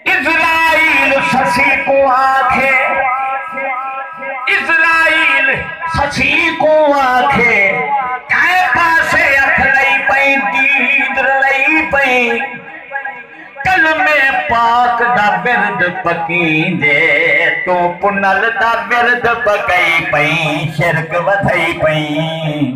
اسرائیل سسی کو آکھے اسرائیل سسی کو آکھے کہے پاسے اکھ لئی پئی دید لئی پئی کلمے پاک دا برد پکین دے تو پنل دا برد پکئی پئی شرک ودھئی پئی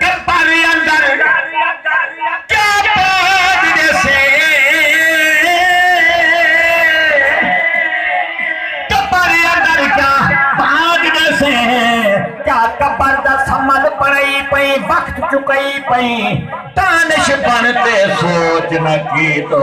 کپڑیں اندر کیا پاج جیسے کپڑیں اندر کیا پاج جیسے کیا کپڑ دا سمل پڑائی پئی وقت چکائی پئی دانش بن تے سوچ نہ کی تو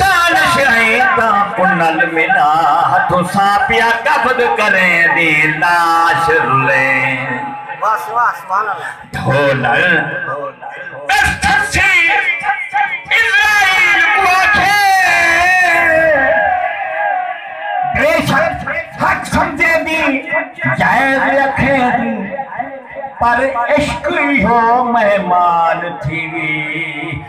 دانشہیں تاں کنل ملا ہتھوں ساپیا قبض کریں دی لاش رلیں۔ ڈھولر دس تھسی اسرائیل کوں آکھے بے شک حق سمجھے دی جائز رکھیں دی پر عشق ایہو مہمان تھیوی۔